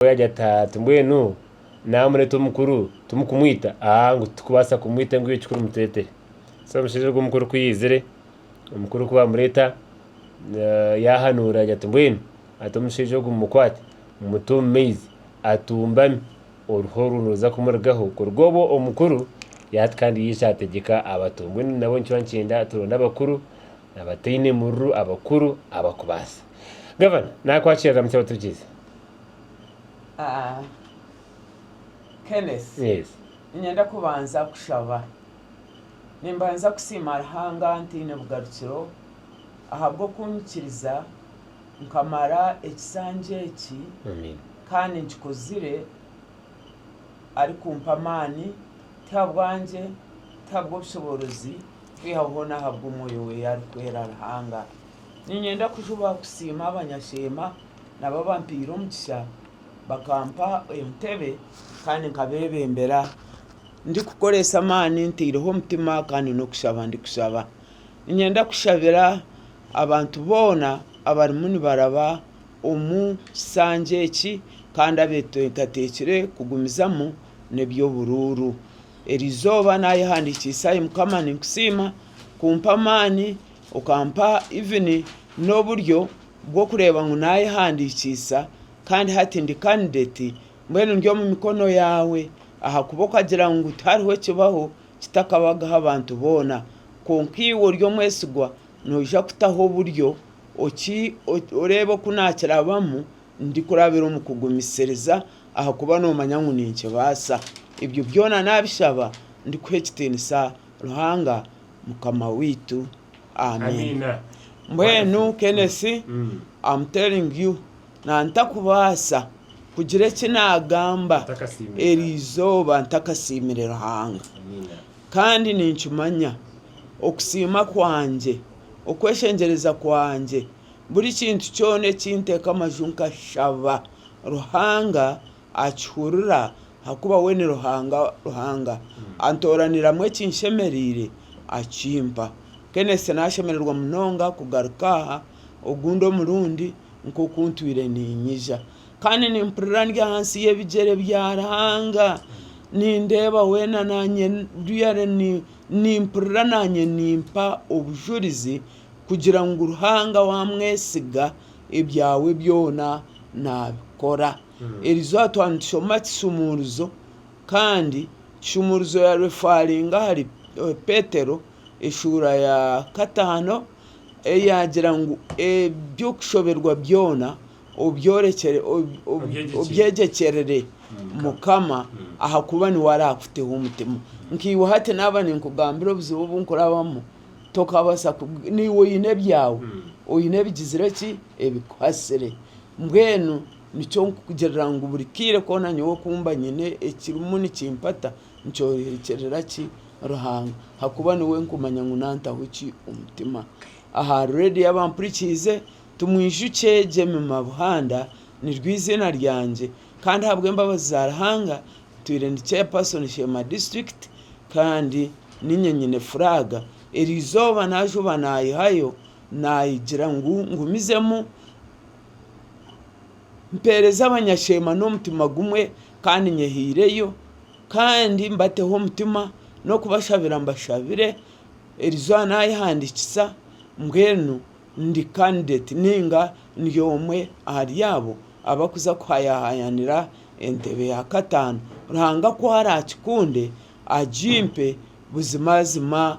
Nabwo yaagira ati, Hati mbwenu naamureeta omukuru timukumwita? Aa, ngu titukubaasa kumwita ngu iwe kikuru mutureetere. So omushaija ogwo omukuru ku yaizire, omukuru ku baamureeta, yaahanuura yaagira ati, Mbwenu hati omushaija ogu mumukwate, mumute omu maizi atumbame, oruho orwo niruza kumurugaho. Kuruga obwo omukuru yaata kandi yaija ategyeka abato. Mbwenu nabwo nikyo nikyenda turonde abakuru abataine mururu, abakuru abakubaasa. Gavana, naakwakira, ramukya abaturikirizi. Ah, Kenneth, Yes. niinyenda kubanza kushaba. Nimbanza kusiima Ruhanga ntaine bugarukiro ahabw'okunyikiriza nkamara ekisanja eki Amen. kandi nkikozire arikumpa amaani, tihabwangye, tihabw'obushoboorozi, kwihaho hoona ahabw'Omwoyo we arikwera Ruhanga. Niinyenda kujuba kusiima abanyasheema. Nabo bampaire omukisa, bakampa entebe kandi nkabeebembera ndikukoresa amaani ntaireho omutima kandi n'okushaba ndikushaba. Niinyenda kushabira abantu boona abarimu nibaraba omu kishangye eki kandi abeeteekateekire kugumizamu n'eby'oburuuru. Erizooba naayehandikiise ahari Mukama ninkusiima kumpa amaani. Okampa even n'oburyo bw'okureeba ngu naayehandiikiisa kandi hati ndi candidate, mbwenu ndi omu mikono yaawe ahakuba okagira ngu tihariho ekibaho kitakabagaho abantu boona kwonka iwe ori omwesigwa noija kutaho oburyo oreebe oku naakirabamu ndikurabira omu kugumisiriza ahakuba noomanya ngu ninkibaasa. Ebyo byona naabishaba ndikuha ekitiinisa Ruhanga. Mukama waitu. Amen. Mbwenu Kenneth, am telling you nantakubaasa kugira eki nagamba eri eizooba ntakasiimire Ruhanga. Kandi ninkimanya okusiima kwangye, okweshengyereza kwangye, buri kintu kyona eki nteeka amaju nkashaba Ruhanga Akihurira, ahakuba we ni Ruhanga. Ruhanga antooraniramu ekinshemereire, akimpa. Kenneth, Naashemererwa munonga kugaruka aha ogundi omurundi nk'oku ntwire niinyija. Kandi nimpurira ndi ahansi y'ebigyere bya Ruhanga. Nindeeba weena naanye real ni, nimpurira naanye nimpa obujurizi kugira ngu Ruhanga waamwesiga, ebyawe byona naabikora. Erizooba twaba nitushoma kisumuurizo kandi kishuumuurizo ya refaringa ahari Petero eshuura ya kataano eyaagira ngu eby'okushoberwa byona obyegyekyerere Mukama ahakuba niwe araakuteho omutima. Nkaiwe hati naaba ninkugambira obuzibu obu nkurabamu, tokabaasa, naiwe oine ebyawe, oine ebigizire ki? ebikuhasire. Mbwenu nikyo nkugirira ngu buri kaire koona nyowe ku mba nyine ekirimu nikimpata, nkyorekyeerera ki? Ruhanga. Ahakuba niwe nkumanya ngu naantaho ki omutima. Aha reediyo abampurikiize, timwijukye Jemmy Mabuhanda, niryo eiziina ryangye. Kandi ahabw'embabazi za Ruhanga, ntwire ndi Chairperson Sheema District kandi niinye nyine furaaga. Erizooba naajuba naayihayo Naayegyera ngu ngumizemu mpeereze abanyasheema n'omutima gumwe kandi nyehaireyo kandi mbateho omutima n'okubashabira mbashabire. Erizooba naayehandiikisa mbwenu ndi candidate nainga ndi omwe ahari abo abarikuza kuhayaahayaanira entebe ya kataano. Ruhanga ku araakikunde agimpe buzimazima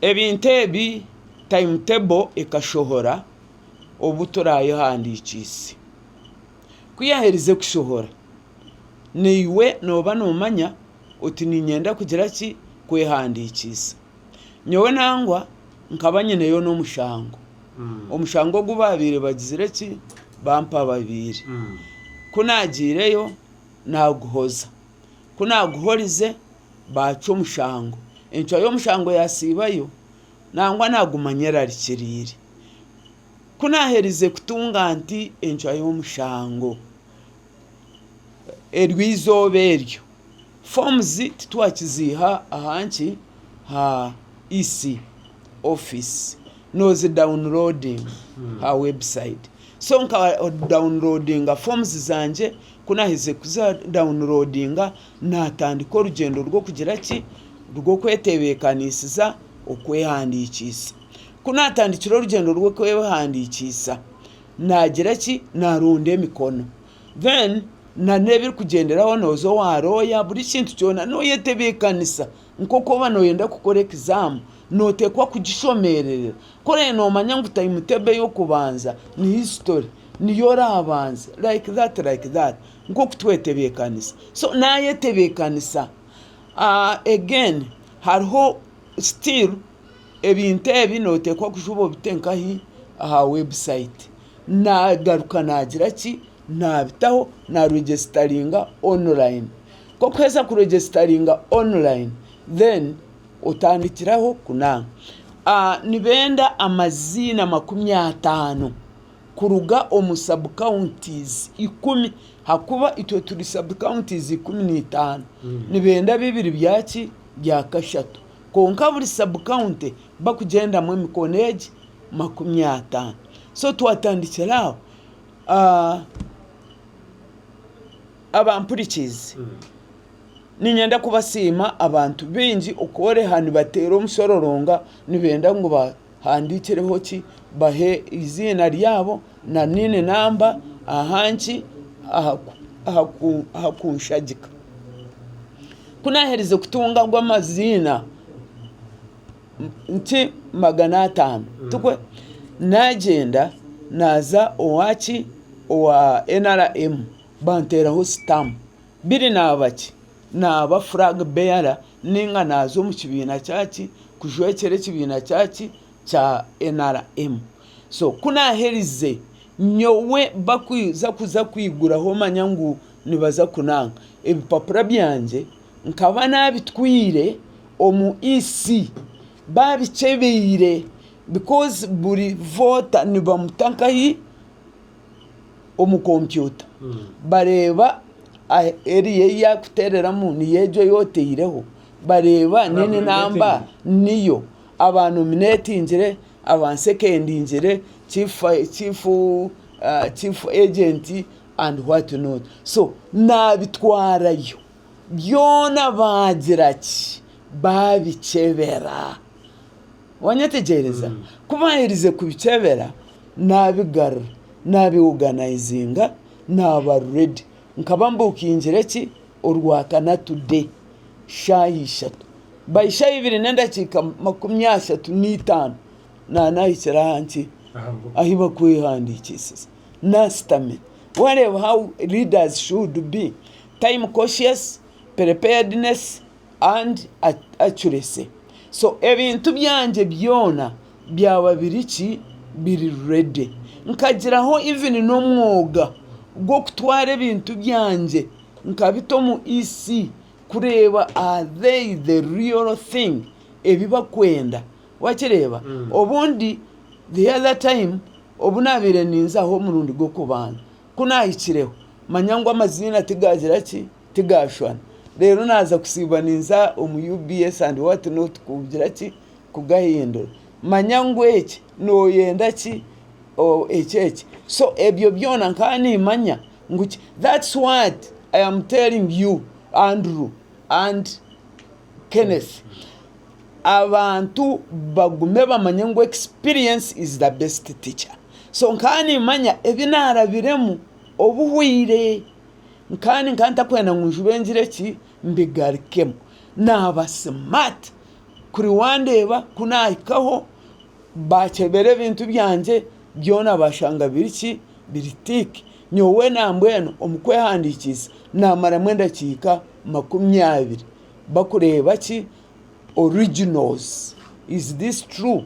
Ebintu ebi time table ekashohora obu turayehandikiise. Ku yaaherize kushohora, naiwe nooba noomanya oti niinyenda kugira ki? Kwehandikiisa. Nyowe nangwa nkaba nyineyo n'omushango. Omushango ogu baabaire bagizire ki? Bampababiire. Ku naagyireyo, naaguhoza. Ku naaguhorize. baacwa omushango. Encwa y'omushango yaasiibayo nangwa naaguma anyerarikiriire. Ku naaherize kutunga nti encwa y'omushango, eryo eizooba eryo fomu zi titwakiziiha aha nki? Ha EC office. Noozidawuniroodinga aha webusayiti. So nkadawuniroodinga fomu zangye, ku naaherize kuzidawuniroodinga Naatandika orugyendo rw'okugira ki? Rw'okwetebeekaniisiza okwehandiikiisa. Ku naatandikira orugyendo rw'okwehandiikiisa, naagira ki? Naaronda emikono. Then nana ebirikugyenderaho nooza owa looya, buri kintu kyona nooyetebeekanisa nk'oku orikuba nooyenda kukora ekizaamu. Nooteekwa kugishomererera. Ku oraabe noomanya ngu taimu teebo ey'okubanza ni hisitori, niyo oraabanze, like that like that. nk'oku twetebeekanisa so naayetebeekanisa again hariho still ebintu ebi nooteekwa kuza obite nkahi aha website naagaruka naagira ki naabitaho na regyesitaringa online k'okuheeza kuregyesitaringa online then otandikiraho kunaaba nibenda amaziina makumi ataano. kuruga omu sub-counties ikumi, hakuba itwe turi sub-counties ikumi n'itaano, nibenda bibiri bya ki? Bya kashatu. Kwonka buri sub-county bakugyendamu emikono egi? Makumi ataano. So twatandikira aho, abampurikiizi, niinyenda kubasiima abantu baingi okworeha nibateera omushororonga nibenda ngu ba. Handikireho ki? Bahe eiziina ryabo na nini namba aha nki aha kunshagika. Ku naaherize kutunga ago amaziina nki magana ataano, naagyenda naaza owa ki owa NRM banteeraho sitamu. Biri naaba ki? Naaba flag bearer ninga naaza omu kibiina kya ki? Kujwekyera ekibiina kya ki? Kya NRM. So ku naaherize, nyowe bakuza kuza kwiguraho manya ngu nibaza kunanga, ebipapura byangye nkaba naabitwire omu EC baabikyebeire because buri voota nibamuta nkahi? omu kompyuta bareeba eriya ei yakuteereramu niyo egyo ei oteireho bareeba nini namba niyo aba nominetingire aba sekendingire chiifu ejenti andi hwati noti so naabitwarayo byona baagira ki baabikyebera. Waanyetegyereza? Ku baaherize kubikyebera, naabigarura, naabioganayizinga, naaba ready. Nkaba mbuukiingire ki? Orwakana today, shaaha ishatu, by shaaha ibiri n'endakiika makumi ashatu n'eitaano naaba naahikire aha nki? Ahu bakwehandiikiisize. Naashutamire. Waareeba how leaders should be, time cautious, preparedness. and accuracy so ebintu byangye byona byaba biri ki biri ready nkagiraho even n'omwoga gw'okutwara ebintu byangye nkabita omu EC kureeba are they the real thing ebi bakwenda wakireeba obundi the other time obu nabaire ninzaho omurundi gw'okubanza ku nahikireho manya ngu amaziina tigagira ki. Tigaashwana. Reero naaza kusiiba ninza omu UBS and what not kugira ki? Kugahindura. Manya ngu eki, nooyenda ki? Or eki eki. So ebyo byona nkaba niimanya ngu ki. That's what I am telling you Andrew and Kenneth. Abantu bagume bamanye ngu experience is the best teacher. So nkaba niimanya ebi naarabiremu obuhwire. kandi nkaba ntakwenda ngu njube ngire ki mbigarukemu. Naaba smart kuri wandeeba ku naahikaho baakyebera ebintu byangye byona baashanga biri ki biri tick. Nyowe nambwenu omu kwehandiikiisa naamaramu endakiika makumi abiri bakureeba ki originals is this true?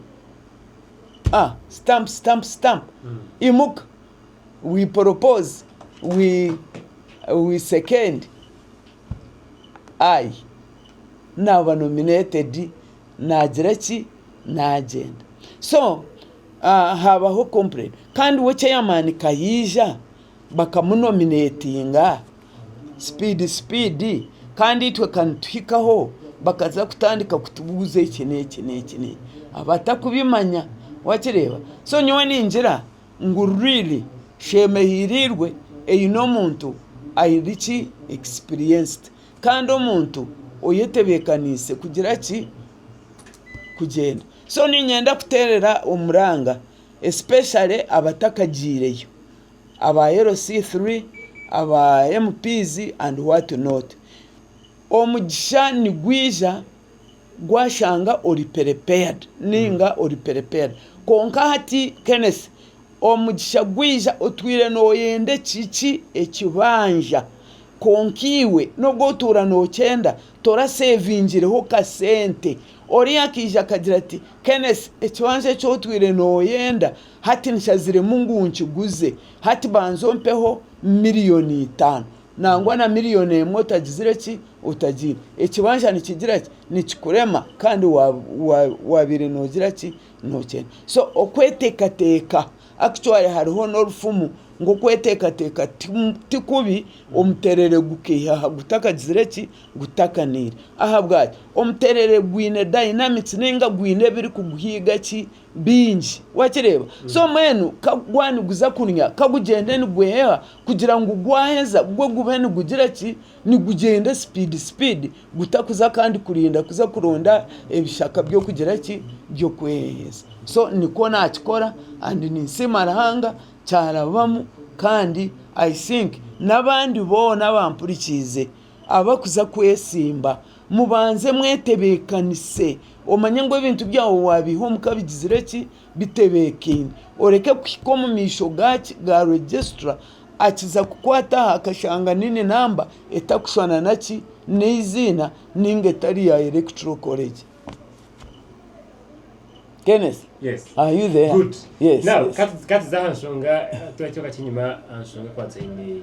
Stamp stamp stamp imuka we propose we second I naaba nominated naagira ki naagyenda so haabaho complain kandi we chairman ka yaija bakamunominatinga speed speed kandi itwe ka nituhikaho bakaza kutandika kutubuuza eki n'eki n'eki n'eki abatakubimanya wakireeba so nyowe ningira ngu really sheema ehiiriirwe eine omuntu aine ki experienced kandi omuntu oyetebeekaniise kugira ki kugyenda so niinyenda kuteerera omuranga especially abatakagyireyo aba LC three aba MP's and what not omugisha nigwija gwashanga ori perepeadi ninga ori perepeadi kwonka hati Kenneth omugisha gwija otwire noyenda eki ki ekibanja kwonka iwe nogu otuura nokyenda torasevingireho kasente oriya akaija akagira ati Kenneth ekibanja eki otwire noyenda hati nikyaziremu ngu nkiguze hati banza ompeho miriyoni itaano. Nangwa na miriyoni emwe otagizire ki? Otagiine. Ekibanja nikigira ki? Nikikurema kandi waabaire noogira ki? Nookyenda. So okweteekateeka, actually hariho n'orufumu ngu okweteekateeka ti kubi, omuteerere gukaihaho gutakagizire ki? Gutakaniire. Ahabwaki? Omuteerere gwine dynamics nainga gwine ebirikuguhiga ki? bingi. Wakireeba? So mbwenu ka gwa niguza kunya, ka gugyende nigweheha kugira ngu gwaheza gwo gube nigugira ki? Nigugyende sipiidi sipiidi gutakuza kandi kurinda kuza kuronda ebishaka by'okugira ki? By'okweheheza. So nikwo naakikora kandi ninsiima Ruhanga kyarabamu kandi I think n'abandi boona abampurikiize, Abarikuza kwetsimba, mubanze mwetebeekanise. Omanye ngu ebintu byawe waabiiha omuka bigizire ki? Bitebeekaine. Oreke kuhika omu maisho gaaki? Ga Registrar. Akiza kukwata aha akashanga niini namba etarikushushana na ki? N'eiziina nainga etari ya Electoral College. Kenneth, are you there? Good. Yes. Now, ka tuze aha nshonga, turekye akakye enyima aha nshonga ekwatiraine.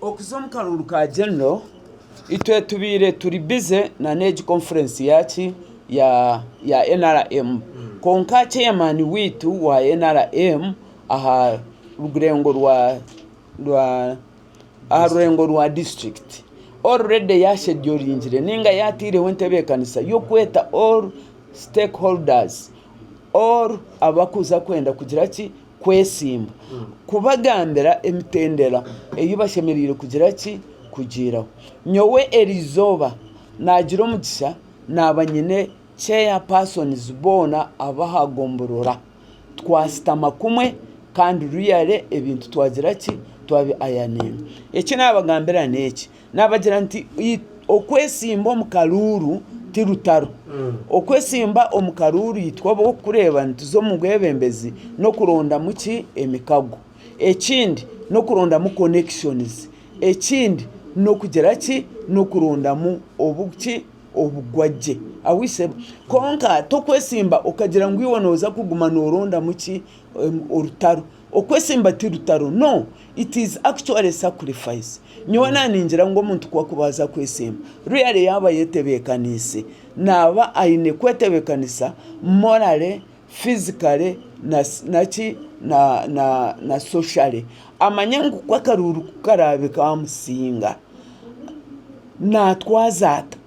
Okuza omu karuuru ka genero itwe tubaire turi bize nana egi konfurensi yaaki ya NRM kwonka chairman waitu wa NRM aha rurengo rwa disiturikiti already yasheduringire ninga yateireho entebeekanisa y'okweta all stakeholders all abarikuza kwenda kugira ki Kwesimba, Kubagambira emitendera ei bashemereire kugira ki? Kugiiraho. Nyowe eri izooba naagira omugisha naaba nyine chair persons boona ab'aha gomborora. Twashutama kumwe kandi royally ebintu twagira ki? Twabi ironinga. Eki naabagambira n'eki, Naabagira nti, Okwesimba omu karuuru ti rutaro. Okwesimba omu karuuru itwe ab'orikureeba nituza omu bwebembezi n'okurondamu ki? Emikago. Ekindi n'okurondamu connections. Ekindi n'okugira ki? N'okurondamu obuki? Obugwagye. Ahwitsebo. Kwonka tokwesimba okagira ngu iwe nooza kuguma noorondamu ki? orutaro, okwesimba ti rutaro no it is actually sacrifice, nyowe naningira ngu omuntu ku akuba aza kwesimba really yaba ayetebekaniise naba ayine kwetebekanisa morally, physically naki na socially amanye ngu ku akaruuru ku karaabe kamusinga natwaza ata.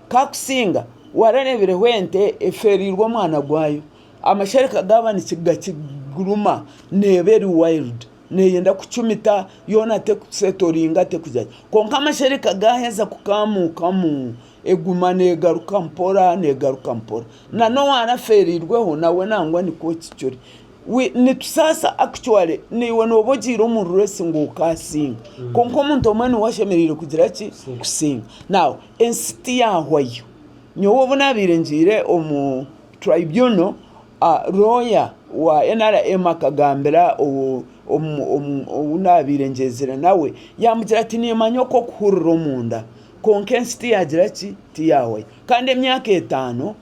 Kakusinga warareebireho ente efeereirwe omwana gwayo, amashereka gaaba nigagiruma neeba eri wayiridi neeyenda kucumita yoona terikuseetoringa terikugira ki. Kwonka amashereka gaaheza kukaamuukamu eguma neegaruka mpora neegaruka mpora. Nan'owaarafeereirweho nawe nangwa nikwo kiri. Nitusaasa actually naiwe nooba ogiire omu race ngu okaasinge kwonka omuntu omwe niwe ashemereire kugira ki? Kusinga. Now ensi tiyaahwayo. Nyowe obu naabaire ngiire omu tribunal, looya wa nrm akagambira ou naabaire ngyezire nawe yaamugira ati niimanya oku okuhurira omunda kwonka ensi tiyaagira ki? Tiyaahwayo. Kandi emyaka etaano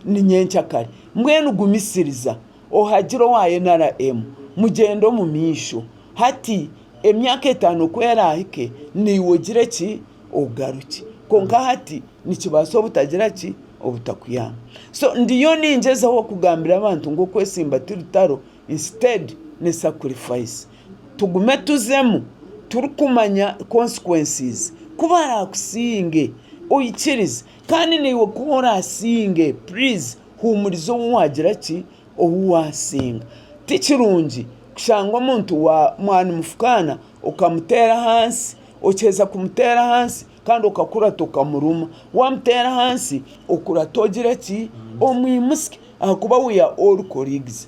ni nyenkya kare. Mbwenu gumisiriza, ohagire owa NRM, mugyende omu maisho. Hati emyaka etaano ku eraahike, naiwe ogire ki? Ogarukye. Kwonka hati nikibaasa obutagira ki? Obutakuyamba. So ndiyo ningyezaho kugambira abantu ngu okwesimba ti rutaro, instead ni sacrifice. Tugume tuzemu turikumanya consequences. Ku baraakusinge, oikirize. Kandi naiwe ku oraasinge, please huumuriza ou waagira ki, ou waasinga. Ti kirungi kushanga omuntu wa, mwanimufukaana okamuteera ahansi, okiheza kumuteera ahansi kandi okakurata okamuruma. Waamuteera ahansi, okurata ogire ki, omwimutsya ahakuba we are all colleagues.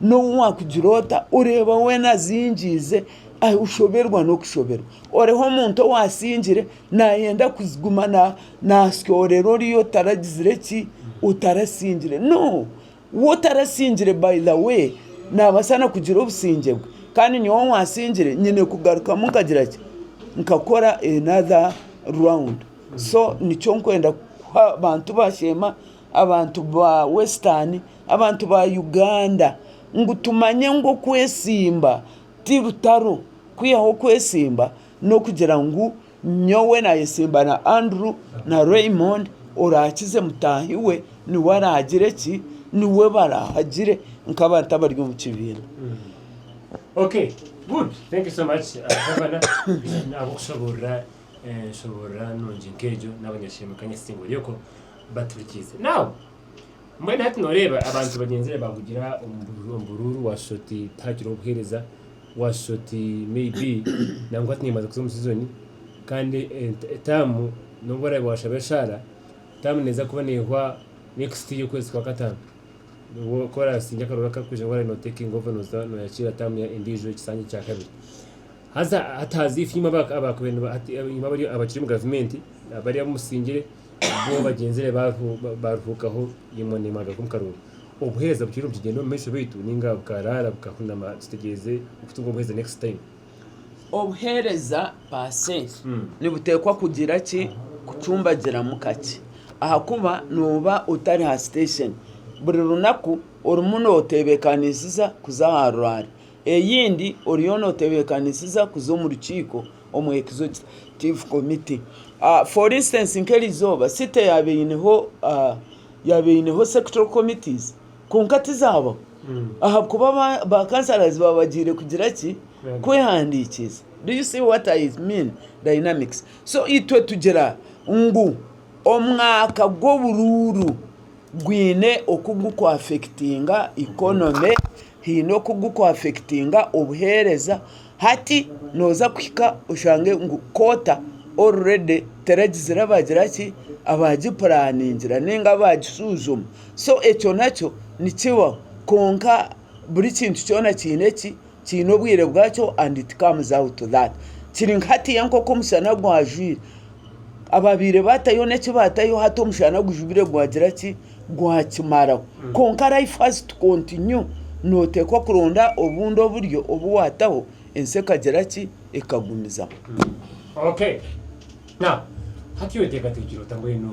N'obu waakugira ota, oreeba weena azingiize, oshoberwa n'okushoberwa. Oriho omuntu ou asingire naayenda kuguma naasyoorera oriya otaragizire ki, otarasingire. No! Ou otarasingire by the way, naabaasa na kugira obusingye bwe. Kandi nyowe ou asingire nyine kugarukamu nkagira ki, nkakora another round. So nikyo nkwenda kuha abantu ba Sheema abantu ba western abantu ba Uganda ngu tumanye ngu okwesimba ti rutaro kwihaho okwesimba n'okugira ngu nyowe nayesimba na Andrew na Raymond orakize mutahi we niwe aragire ki niwe barahagire nk'abantu abari omu kibiina. baturikiize. Now, mbwenu hati nooreeba abantu bagyenzire baahugira omu bu- omu buruuru waashusha oti tihakireho buheereza waashusha oti maybe nangwa hati niimaze kuza omu sizoni kandi ent- etaamu n'obu oraabe waashaba eshaara taamu neeza kuba neehwa next year okwezi kwa kataano nibwo ku oraasingye akaroora karikwija ngu oraabe nootekinga over nooza nooyakiira taamu ya- endiijo ekisanja kya kabiri. Haza hati haza ife imwe abakubaire abakiri omu gavumenti bari abu musingire bo bagyenzire baruhuukaho imwe nimwe agaruka omu karooro. Obuheereza butwire nibukigyenda omu maisho beitu ninga bukaraara bukahunama kitegyeze okutunga obuheereza next time? Obuheereza paase nibuteekwa kugira ki kucumbagiramu kakye ahakuba nooba otari ha station buri runaku orimu noteebekaniisiza kuza aha ruraare. Eyindi oriyo notebekanisiza kuza omu rukiiko omwekizo ki tive committee for instance nk'erizooba city yaba eineho yaba eineho sectoral committees kwonka tizabaho mm. ahakuba ba councillors baba bagiire kugira ki kwehandiikiiza do you see what I mean dynamics so itwe tugira ngu omwaka gw'oburuuru gwine oku guri ku affectinga economy, haine oku guri ku affectinga obuheereza, hati nooza kuhika oshange ngu kwoota already teragizire abagira ki? Abaagipuraaniingira nainga abaagishuzuma. So ekyo nakyo nikibaho kwonka buri kintu kyona kiine eki? Kiine obwire bwakyo and it comes out that kiri nka hatiiya nk'oku omushana gwajwire ababaire batayo n'eki batayo hati omushana gujubire gwagira ki gwakimaraho mm. kwonka life has to continue nooteekwa kuronda obundi oburyo obu waataho ensi ekagira ki ekagumizamu mm. okay. Now, hati oteekateekire ota mbwenu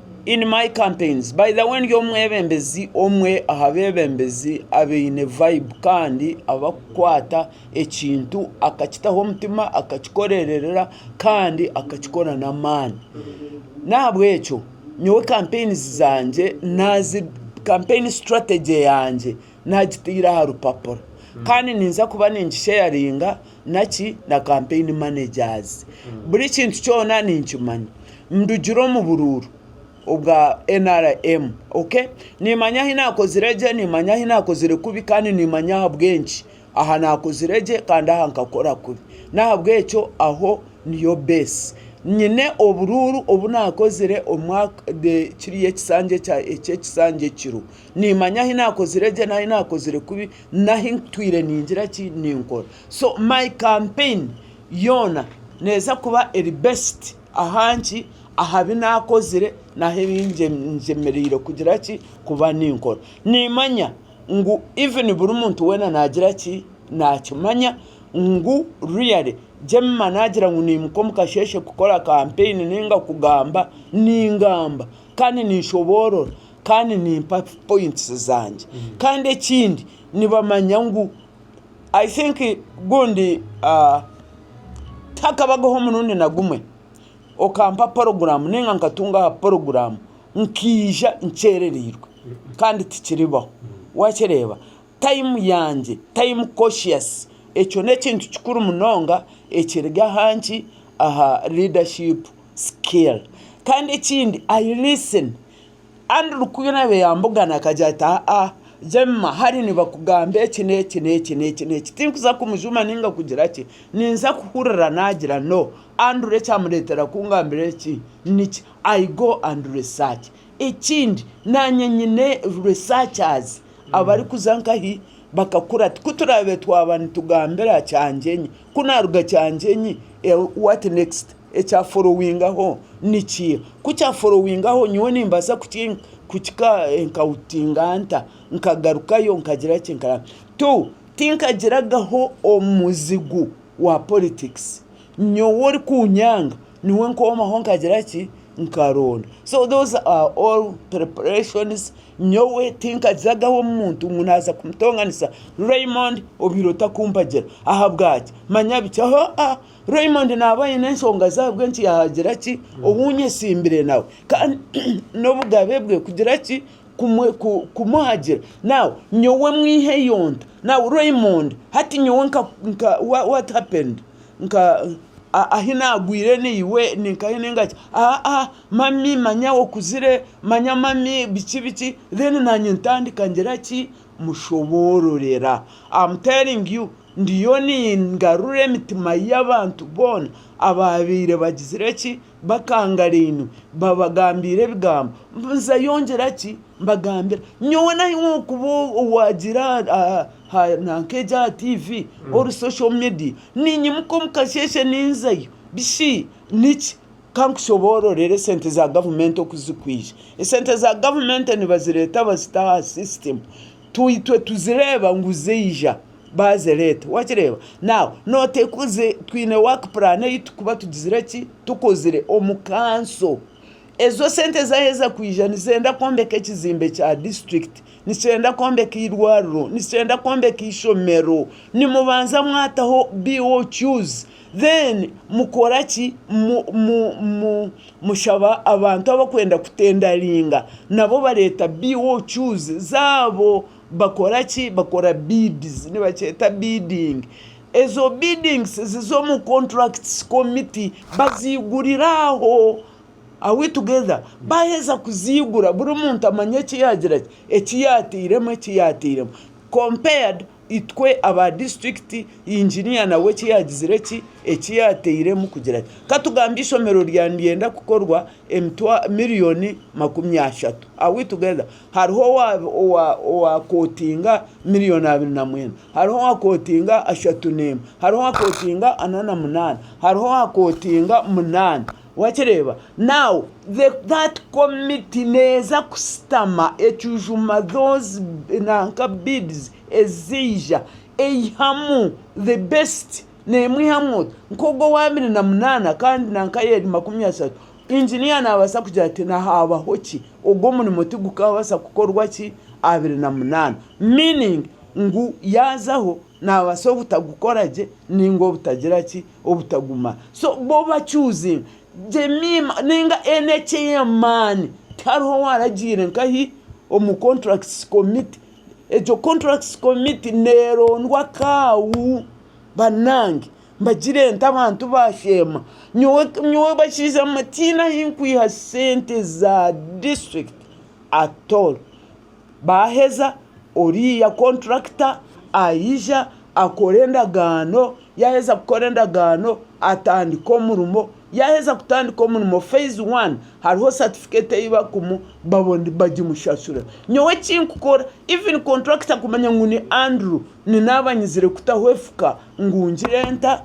In my campaigns by the way ndi omwebembezi omwe aha bebembezi abaine vibe kandi abakukwata ekintu akakitaho omutima akakikorerera kandi akakikora n'amaani n'ahabw'ekyo nyowe kampeyini zangye, kampeyini sitrategi yangye Naagitaire aha rupapura kandi ninza kuba ningisheyaringa naki na campaign managers. Buri kintu kyona ninkimanya. Ndugire omu buruuru obwa nrm. Okay? Niimanya ahi naakozire gye, niimanya ahi naakozire kubi kandi niimanya ahabw'enki. Aha naakozire gye kandi aha nkakora kubi. N'ahabw'ekyo aho niyo base. Nyine oburuuru obu naakozire omwaka, kiriya ekisanja, eky'ekisanja ekiro. Niimanya ahi naakozire gye n'ahi naakozire kubi n'ahi ntwire ningira ki, ninkora. So my campaign yoona neeza kuba eri based aha nki, aha bi naakozire n'ahi ngyemereire kugira ki, kuba ninkora. Niimanya ngu even buri muntu weena naagira ki, naakimanya ngu really Jemima naagira ngu niimuka omu kasheeshe kukora campaign nainga kugamba, ningamba kandi ninshoboorora kandi nimpa points zangye kandi ekindi nibamanya ngu I think gundi tihaakabagaho omurundi na gumwe okampa porogramu nainga nkatunga aha porogramu nkaija nkyerereirwe kandi tikiribaho waakireeba. Tayimu yangye, time conscious, ekyo n'ekintu kikuru munonga ekiri aha nki, aha leadership skill. Kandi ekindi I listen, Andrew ku yaabaire yaambugana akagira ati aa Jemima hare nibakugamba eki n'eki n'eki n'eki, tinkuza kumujuma nainga kugira ki, ninza kuhurira naagira no, Andrew ekyamureetera kungambira eki niki, I go and research. Ekindi naanye nyine researchers abarikuza nkahi bakakura ti kuturabe twaba nitugambira kyangyeenyi ku naruga kyangyeenyi what next ekya forowingaho nikiiha ku kya forowingaho nyowe nimbaasa kukika enkawutinga nta nkagarukayo nkagira ki tu tinkagiragaho omuzigu wa politikisi nyowe orikunyanga. niwe nkomaho nkagira ki nkaronda so those are all preparations nyowe tinkajagaho omuntu ngu naza kumutonganisa Raymond obwire otakumpagira ahabwaki manya biki hoaa Raymond naba ayine enshonga ze ahabwenki yagira ki owunyesimbire nawe kandi nobugabe bwe kugira ki kumuhagira now nyowe mwiha eyo nte now Raymond hati nyowe nka what happened nka ahi naagwire naiwe ninkahi ningaki aa mami manya okuzire manya mami biki biki then naanye ntandika ngira ki mushoboororera am telling you ndiyo ningarura emitima y'abantu boona abaabaire bagizire ki bakangarainwe babagambiire ebigambo mbwenu yongyera ki mbagambira nyowe nahi okuba owagira nk'egi aha tiivi ori sosho midiya ninyimuka omu kasheeshe ninzayo bishi niki ka nkushoboororere esente za gavumenti oku zirikwija esente za gavumenti nibazireeta bazita aha sisitemu itwe tuzireeba ngu ziija. baaze reeta. Waakireeba? Naawe nooteekuze twine waaki puraani ei turikuba tugizire ki? Tukozire omu kanso. Ezo sente zaaheza kwija nizenda kwombeka ekizimbe kya disiturikiti, nikyenda kwombeka eirwariro, nikyenda kwombeka eishomero. Nimubanza mwataho BOQs, then mukora ki? Mushaba abantu abarikwenda kutendaringa nabo bareeta BOQs zaabo. bakora ki? Bakora bids, nibakyeta bidding. Ezo biddings ziza omu contracts committee baziigurira aho. Are we together? Baaheza kuziigura buri muntu amanye eki yaagira ki? Eki yaatairemu, eki yaatairemu. Compared itwe aba district engineer nawe eki yaagizire ki? Eki yaatairemu kugira ki? Ka tugambe eishomero ryaabe niryenda kukorwa emitwa, miriyoni makumi ashatu. Are we together? Hariho owakootinga miriyoni abiri na mwenda. Hariho owakootinga ashatu n'emwe. Hariho owakootinga ana na munaana. Hariho owakootinga munaana. Waakireeba? Naw that committee neeza kushutama ecujuma those nanka beads eziija eihamu the best neemwe eihamu oti nk'ogwo owa abiri na munaana kandi nanka ayeeri makumi ashatu Inginiya naabaasa kugira ati, Nihaabaho ki? Ogwo omurimo tigukaabaasa kukorwa ki? Abiri na munaana. Meaning, ngu yaazaho naabaasa obutagukora gye nainga obutagira ki? Obutagumara. So bo ba choosing Jemima nainga NHA ey'amaani. Tihariho owaaragiire nkahi omu Contracts Committee. Egyo Contracts Committee neerondwa kaawu banange. Mbagire nti abantu baasheema, nyowe bakiijamo tihaine ahu nkwiha sente za district at all. Baaheza oriya contractor aija akore endagaano, yaaheza kukora endagaano atandike omurimo, yaaheza kutandika omurimo phase one hariho certificate ei bakumuha bagimushashura. Nyowe eki nkukora even contractor kumanya ngu ni Andrew Ni naaba nyizire kutaho efuka ngu ngire nta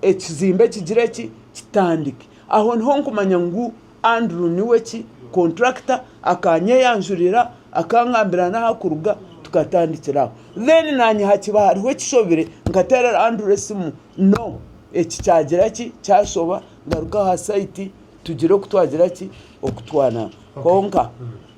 ekizimbe kigire ki? Kitandike. Aho niho nkumanya ngu Andrew niwe ki? Contractor, akanyeyanjurira, akangambira n'aha kuruga, tukatandikira aho. Then naanye hakiba hariho ekishobire, nkateerera Andrew esimu, no, eki kyagira ki? Kyashoba, ngaruka aha site, tugire oku twagira ki? Okutwanamu. Kwonka.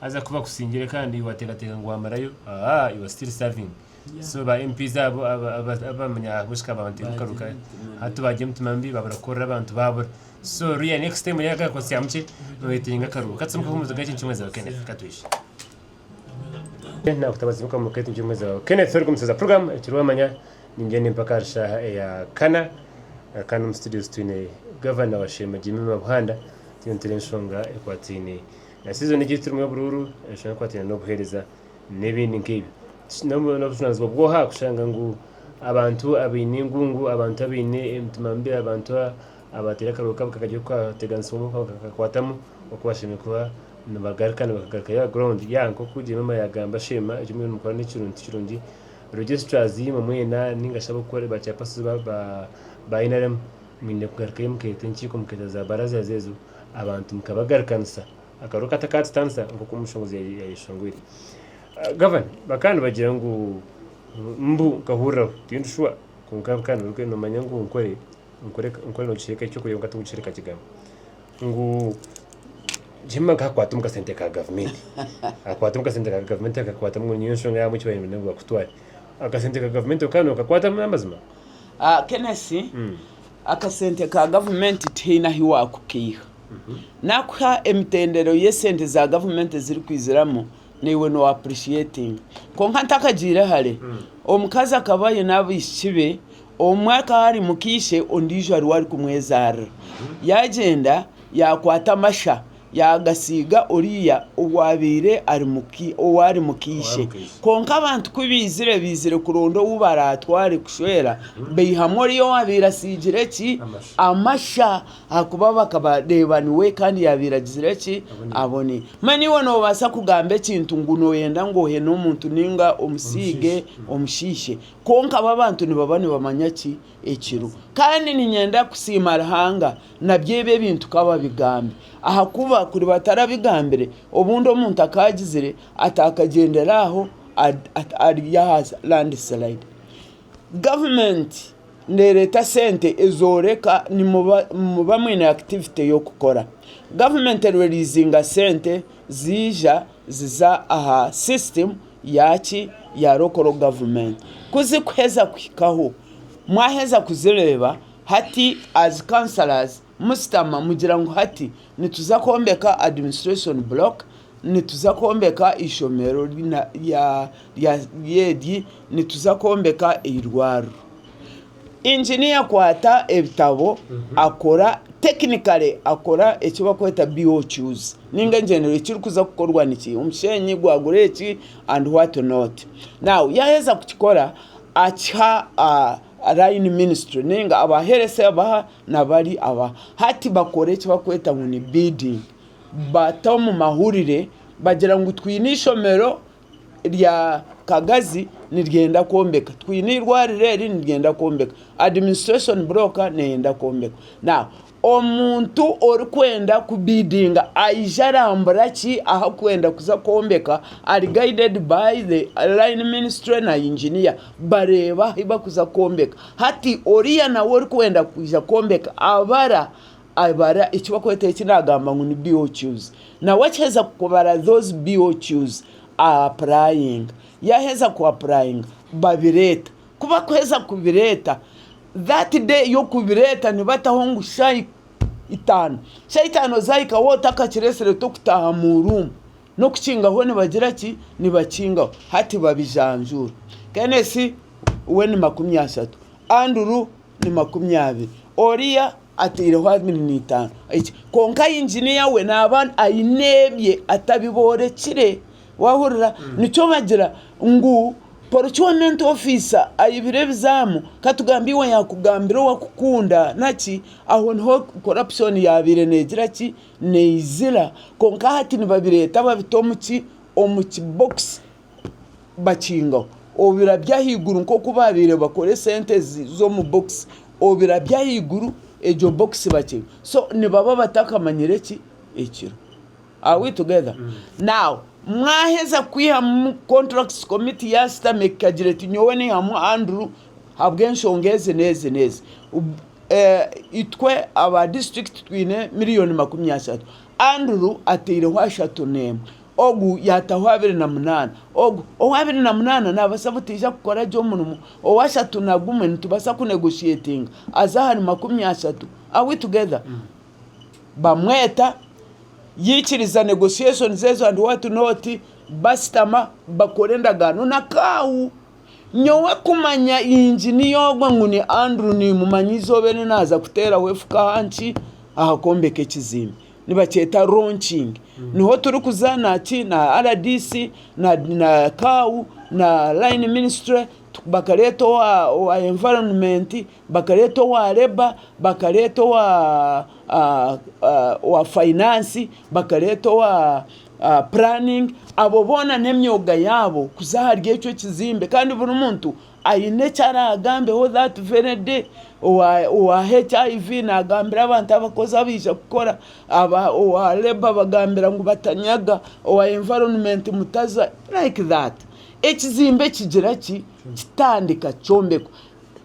Haza ku bakusingire kandi wateekateeka ngu waamarayo, aah, you are still serving. So ba MPs abo aba- aba- abamanya ahabw'ekika baaba nibatebukaruka. Hati baagira emitima mibi baabura kukorera abantu baabura. So real next time oine akabakosi kya mukye, nooyetenga akaruho. Ka tsimukeho omuziga eki nikimwe zaawe Kenneth, ka twihye. Kenneth naakutabaza tsimuka omuka eki nikimwe zaawe. Kenneth ori kumuseza program ekiri wamanya ningyenda empaka ahari shaaha eya kana. Eh, Kandi omu studios twine Gavana wa Sheema Jimmy Mabuhanda, tuye nitureeba enshonga ekwataine Na season egi turimu y'oburuuru eshusha ekwataine n'obuheereza n'ebindi nk'ebi. N'obu- N'obujunaanizibwa bw'oha kushanga ngu abantu abaine engungu, abantu abaine emitima mibi, abantu a- abateera akarooro kabi kakagire kukateganisibwamu kaka- kakakwatamu oku bashemereire kuba nibagaruka nibakagarukayo aha ground. Ya nk'oku Jemima yaagamba Sheema eki muriyo nimukora nikirungi tikirungi. Registrars imwe mwena ninga shi ab'okukore ba chairpersons ba ba ba nrm mwine kugarukayo mukeeta enkiiko mukeeta za barazas ezo abantu nikabagarikanisa akaru katakaatutandisa nk'oku omushongozi yayeshongwire. Gavana, bakaba nibagira ngu mbu nkahuriraho tindi shuwa kwonka bikaba nibiruga nomanya ngu nkore nkore nkore nogikireeka ekyokurya kwonka tigukireeka kigamu ngu Jemima nkahakwata omu kasente ka gavumenti akwata omu kasente ka gavumenti akakwatamu ngu niyo nshonga yaamu eki baine ngu bakutware akasente ka gavumenti okaba nokakwatamu n'amazima? Kenesi Akasente ka gavumenti tihaine ahu waakukaiha. Naakuha emitendero y'esente za gavumenti ezirikwiziramu naiwe no appreciatinga. Kwonka ntakagiire hare, omukazi akaba aine abaishiki be, omwe akaba ari muka ishe ondiijo ariwe arikumwezaarira. Yaagyenda yaakwata amasha Yaagasiiga oriya owaabaire ari mu ka ishe. Kwonka abantu ku baizire, baizire kuronda ou baraatware kushwera, baihamu oriya owaabaire asiigire ki? Amasha. Ahakuba bakaba reeba niwe kandi yaabaire agizire ki? Abone. Mbwenu iwe noobaasa kugamba ekintu ngu nooyenda ngu ohe n'omuntu nainga omusiige omushiishe. Kwonka bo abantu nibaba nibamanya ki? Ekiro. Kandi niinyenda kusiima Ruhanga. Nabyo ebi ebintu ka babigambe, ahakuba kuri batarabigambire, obundi omuntu akagizire atakagyendera aho ari aha landisilidi. Gavumenti nereeta sente ezooreka nimuba mwine akitivite y'okukora. Gavumenti ererizinga sente ziija ziza aha sisitimu yaaki? Ya lokoro gavumenti. Ku zikuheza kuhikaho, mwaheza kuzireeba Hati as councillors musitama mugira ngu hati nituza kwombeka administration block, nituza kwombeka eishomero eryi, nituza kwombeka eirwariro. Engineer kwata ebitabo akora technically akora eki barikweta BOQs ninga engyendero ekirikuza kukorwa niki omu kisheenyi gwagura eki and what not. Now yaheza kukikora akiha. Line ministry ninga aba health abaha nabari aba hati bakora ekibakweta ngu ni bidding bata omu mahurire bagira ngu twine ishomero rya kagazi niryenda kwombeka twine irwariro eri niryenda kwombeka administration block neyenda kwombekwa. Omuntu orikwenda ku bidinga aija arambura ki ahu kwenda kuza kwombeka ari guided by the line ministry na engineer bareeba ahu barikuza kwombeka hati oriya nawe orikwenda kwija kwombeka abara abara eki barikweta eki nagamba ngu ni BOQs nawe akiheza kubara those BOQs a apurayinga yaheza ku apurayinga babireeta ku barikuheza kubireeta That day y'okubireeta nibataho ngu shaayi itaano. Shaayi itaano zaahika waaba otakakireetsire tokutaaha mu room. N'okukingaho nibagira ki? Nibakingaho. Hati babijanjuura. Kenneth we ni makumi ashatu. Andrew ni makumi abiri. Oriya ataireho abiri n'eitaano. Eki? Kwonka yinginiya we naaba aine ebye atabiboorekire. Waahurira? Nikyo bagira ngu poricu wa menti ofiisa ayibire ebizaamu, ka tugambe iwe yaakugambira owakukunda naki, aho niho korapushooni yaabaire neegira ki? Neizira. Kwonka hati nibabireeta babita omu ki? Omu kibokisi bakingaho obirabyo ahaiguru nk'oku baabaire bakora esente z'omu bokisi, obirabyo ahaiguru egyo bokisi bakinga. So nibaba batakamanyire ki? Ekiro. Are we together now? Mwaheza kwihamu contracts committee yasitama ekagira eti nyowe nihamu Andrew habw'enshonga ezi n'ezi n'ezi itwe aba district twine million makumi ashatu Andrew ateireho ashatu n'emwe ogu yataho abiri na munana ogu ow'abiri na munana nabasa butaija kukora gye omurimo ow'ashatu na gumwe nitubasa ku negotiatinga aze ahari makumi ashatu are we together? bamweta yaikiriza negotiations ezo and what not bashutama bakora endagaano na kaawu. Nyowe kumanya engineer ogwe ngu ni Andrew nimumanya eizooba eri naaza kuteeraho efuka aha ki? Aha kwombeka ekizimbe. Nibakyeta launching. Niho turikuza na ki na rdc na na kaawu na line ministry bakareeta owa owa environment. bakareeta owa labour, bakareeta owa finance, bakareeta owa planning abo boona n'emyoga yaabo kuza ahari ekyo ekizimbe kandi buri muntu aine eki araagambeho that very day owa hiv nagambira abantu abakozi abaija kukora, owa labour abagambira ngu batanyaga, owa environment ngu mutaza like that ekizimbe kigira ki kitandika kyombekwa.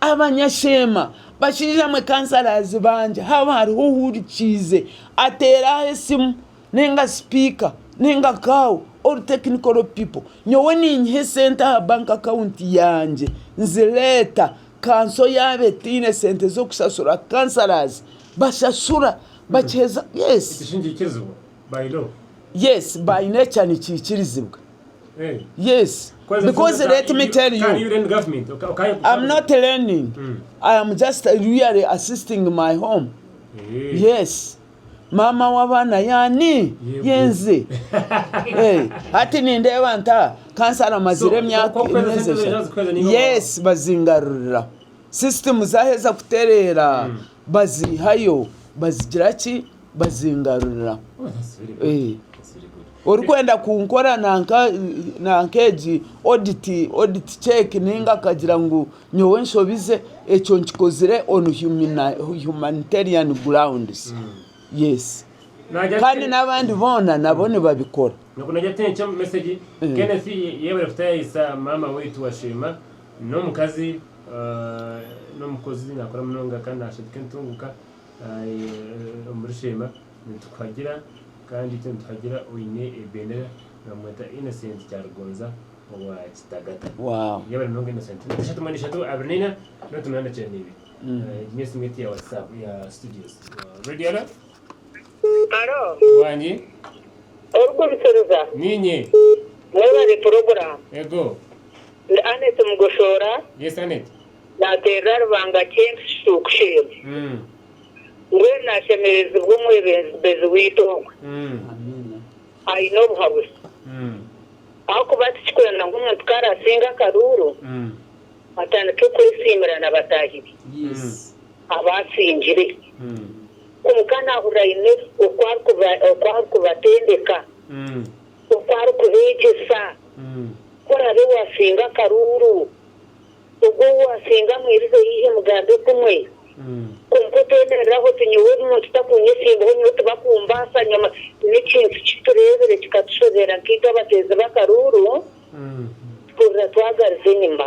Abanyasheema, bashaija mwe kansarazi bangye haaba hariho ohurikiize ateere aho esimu ninga sipiika ninga kaaho all technical people nyowe ninyiha esente aha bank account yangye nzireeta kanso yaaba etaine sente z'okushashura kansarazi bashashura yes. yes by nature nikiikirizibwa yes because let me tell you am not learning I am just really assisting my home yes maama w'abaana yaani yenze hati nindeeba nta kansara amazire emyaka yes bazingarurira system zaheza kutereera Baziihayo bazigira ki? Bazingarurira. Orikwenda kunkora nanka egi oditi ceeki ninga akagira ngu nyowe nshobize, ekyo nkikozire onu humaniteriani gurawundizi. Yesi. Kandi n'abandi boona nabo nibabikora. N'omukazi n'omukozi nakora munonga kandi nashanduka entunguka omuri sheema nitukuhagira kandi itwe nituhagira oine ebendera nibamweta Innocent Kyarugonza owa Kitagata. Yebare munonga Innocent. Nana ishatu mwenda ishatu abiri na ina noti munana kyenda na ibiri. Egi niyo simu yetu ya whatsapp ya studios. Radio Alert. Haro. Wangi. Orikuhitsiriza. Niinye. Mwebare puroguramu. Ego. Ndi Annet Mugoshoora. Yes Annet. Naaterera aha Rubanga Kemp Shuuku Shell. Mbwenu naashemerezibwa omwebembezi waitu ogwe. Aine obuhabuzi. Ahakuba tikikwenda ngu omuntu ku araasinge akaruuru, atandike kwesiimira na bataahi be. Aba asingire. Kwonka naahurira aine oku arikubatendeka, oku arikubeegyesa. Ku oraabe waasinga akaruuru, ogwo ou waasinga amwirize haihi mugambe kumwe. Kwonka oteemereraho oti, Nyowe ogu muntu takunyesiimbaho, nyowe tibakumbaasa. Nyowe n'ekintu ki tureebire kikatushobeera nk'abateezi b'akaruuru, tuhurira twagariza enyima.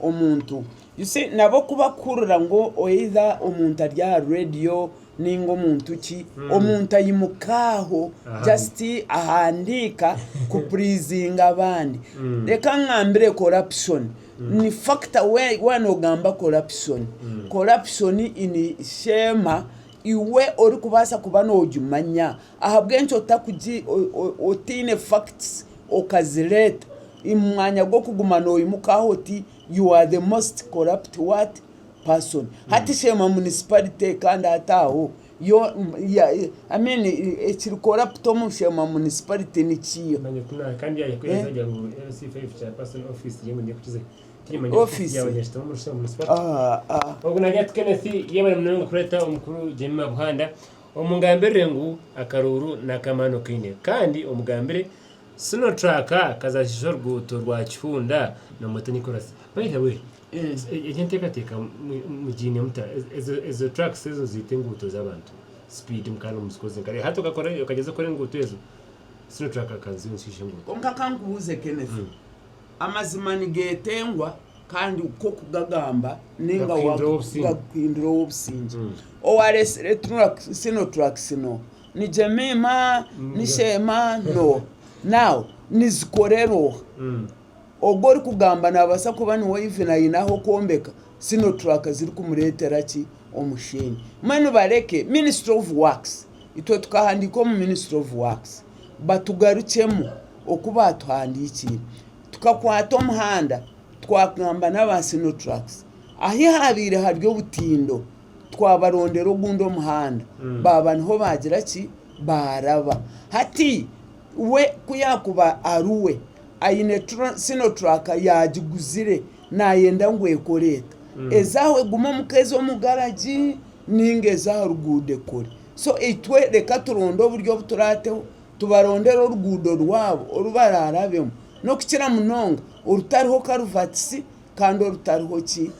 omuntu. You see nabo ku bakuhurira ngu either omuntu ari aha radio ninga omuntu ki, omuntu ayimuka aho just ahandiika ku pleasinga abandi. Reka ngambire corruption ni factor we waaba ogamba corruption, corruption in Sheema iwe orikubaasa kuba nogimanya Ahabw'enki otakugi otaine facts okazireeta imumwanya gw'okuguma noyimuka aho oti you are the most corrupt what? person hati sheema municipality kandi hati aho yo I mean ekiri corrupt omu sheema municipality nikiiha? Office? Ahaa. Omungambirire ngu akaruuru n'akamaani okaine kandi omugambire Sino track kazashija oruguuto rwa Kihunda na Mutoni chorus. By the way, egyo enteekateeka mugiine muta? Ezo tracks ezo ziita enguuto z'abantu speed mukaba nimuzikoze nka hati okagyeza kukora enguuto ezo Sino track akaza enguuto. Kwonka kankubuuze Kenneth, Amazima nigeetengwa kandi ku okugagamba ninga gakuhindura ow'obusingye. Owaresire sino tracks no ni Jemima, ni Sheema no now nizikorera oha? Ogu orikugamba nabasa kuba niwe even ayine ahu okwombeka sino track ziri kumuretera ki omusheenyi. Mbwenu bareke ministry of works itwe tukahandika omu ministry of works batugarukyemu oku baatuhandiikiire. Tukakwata omuhanda twagamba n'aba Sinotrucks ahu haabaire hari obutindo, twabarondera ogundi omuhanda baaba niho baagira ki, baaraba. Hati we ku yaakuba ari we aine Sinotruck yaagiguzire naayenda ngu ekore eta, eze aho egume omu ka eze omu garagi nainga eze aha ruguuto ekore. So itwe reka turonde oburyo obu turaateho tubarondere oruguudo rwabo oru baraarabemu, n'okukira munonga orutariho karuvatisi kandi orutariho ki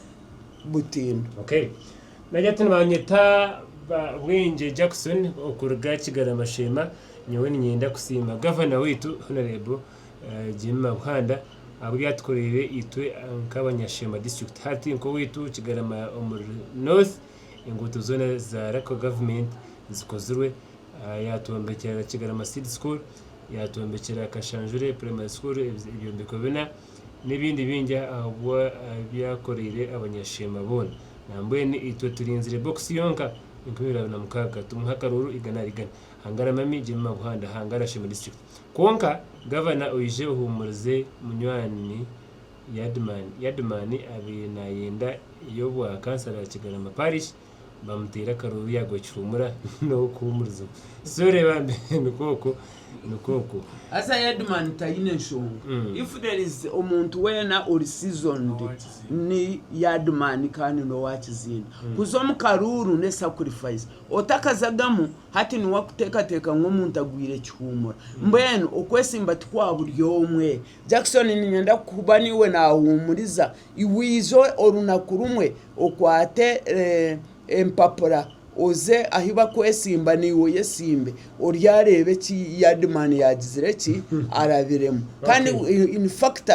butindo. Okay. Nagira ati Nibanyeta Bwengye Jackson okuruga Kigarama Sheema. Nyowe niinyenda kusiima Gavana waitu Honourable Jimmy Mabuhanda ahabw'ebi atukoreire itwe nk'abanyasheema District hati nk'owaitu Kigarama omuri North. enguuto zoona za Local Government zikozirwe, yaatwombekyera Kigarama Seed School, yaatwombekyera Kashanjure Primary School ebyombeko bina n'ebindi bingi ahabw'ebi yaakoreire Abanyashemba boona. Nambwenu itwe turinzire bokisi yonka enkumi ibiri na mukaaga tumuhe akaruuru igana ahari igana. Hangara Mami Jemima Buhanda, hangara Shemba District. Kwonka Gavana oije ohuumurize munywani Yadman. Yadman abaire nayenda eyobwa kansara ya Kigarama parish bamuteire akaruru yagwa kihumura nokuhumurizibwa so reba mbere nikwo okwo nikwo okwo. Haza Yadman tayine nshonga if there is omuntu wena ori seasoned ni Yadman kandi nowa kizinda. Kuza omu karuuru ne sacrifice otakazagamu hati niwe akutekateka ngu omuntu agwire kihumura mbwenu okwesimba tikwa buri omwe Jackson ninyenda kuba niiwe naahuumuriza. Iwe ija orunaku rumwe okwate empapura oze ahu bakwesimba naiwe oyesimbe oryareeba eki Yardman yaagizire ki? Arabiremu. Kandi in fact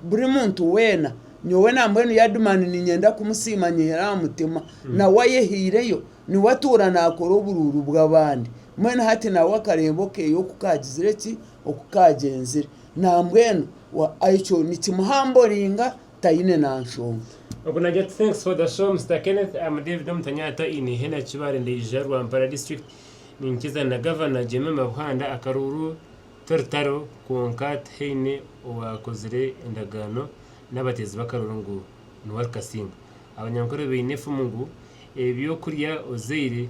buri muntu weena, nyowe nambwenu Yardman niinyenda kumusiima nyehera aha mutima. Nawe ayehaireyo, niwe atuura naakora oburuuru bw'abandi. Mbwenu hati nawe akareeba okeeye oku kaagizire ki? Oku kaagyenzire. Nambwenu wa Aicho nikimuhamboringa taine na nshonga. Ogu nagya Thanks for the show Mister Kenneth am David Omutanyata in Ihena Kibale Ndaija Rwampara District Ninkiza na Governor Jemima Buhanda Akaruuru Torutaro kwonka tihaine owakozire endagaano nabateezi bakaruuru ngu niwe arikasinga Abanyankore baine efumu ngu ebyokurya ozaire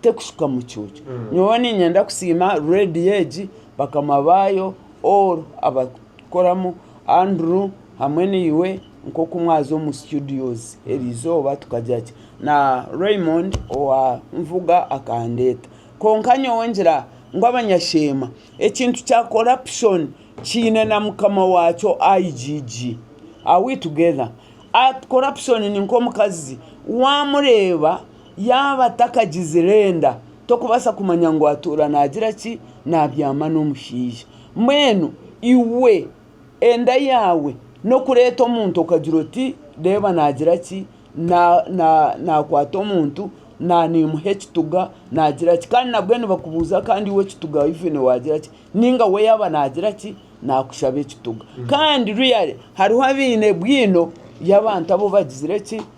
Tekushuka mucuucu. Nyowe ninyenda kusiima radio egi, bakama baayo, all abarikukoramu, Andrew hamwe naiwe nk'oku mwaza omu studios eri izooba tukagira ki na Raymond owa Nvuga akandeeta. Kwonka nyowe ngira ngu abanyasheema ekintu kya corruption kiine na mukama waakyo IGG. Are we together? Corruption ni nk'omukazi, waamureeba Yaaba atakagizire enda, tokubaasa kumanya ngu atuura naagira ki? Naabyama n'omushaija. Mbwenu iwe enda yaawe n'okureeta omuntu okagira oti, reeba naagira ki? Naakwata omuntu, naimuha ekituga, naagira ki? Kandi nabwe nibakubuuza kandi iwe ekituga ivene waagira ki? Nainga we yaaba naagira ki? Naakushaba ekituga. Kandi really hariho abaine bwino y'abantu abu bagizire ki?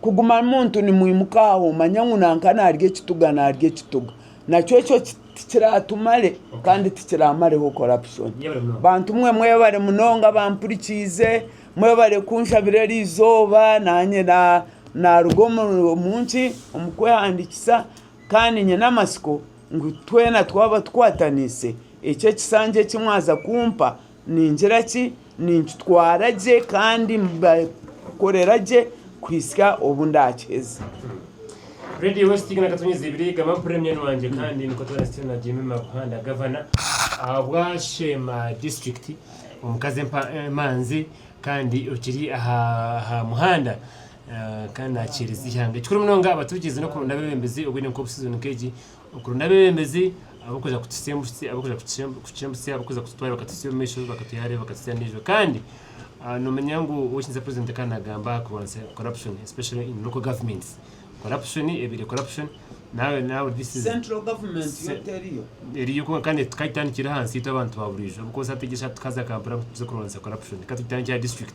Kuguma muntu nimwimuka aho manya ngu nanka naarya ekituga naarya ekituga nakyo ekyo tikiraatumare kandi tikiraamareho corruption. Bantu mwe mwebare munonga abampurikiize, mwebare kunshabira eri izooba naanye naaruga omu nki? Omu kwehandiikisa kandi nyine amatsiko ngu twena twaba tukwataniise eki ekisanja eki mwaza kumpa Ningira ki? Ninkitwara gye kandi mbakorera gye kuhitsya obu ndaakiheza. Radio West Uganda Katonyeza Ibiri, Gama Mpurire Munywani Wangye Kandi Nikwo Twena Sityoona Jemimah Buhanda Gavana Ahabwa Sheema District Omukazi Empa Emanzi Kandi Okiri Aha Aha Muhanda Kandi Nakyereza Ihanga Ekikuru Munonga Abaturikize Nokuronda Abebembezi Obwire Nkobusizo Nkegi Okurunda abeebembezi abarikuza kututwara bakatutsya omu maisho bakatuha hare bakatutsya n'eijwe kandi noomanya ngu ow'ekitinisa purezidenti ka naagamba aha kurwanyisa corruption especially in local governments. Corruption ebaire corruption naawe naawe this is Central government yo teriyo? eriyo kwonka kandi tukagitandikira ahansi itwe abantu ba buriijo ahabw'okuba osaategyesha tukaza Kampala ngu tuze kurwanyisa corruption ka tugitandikire aha district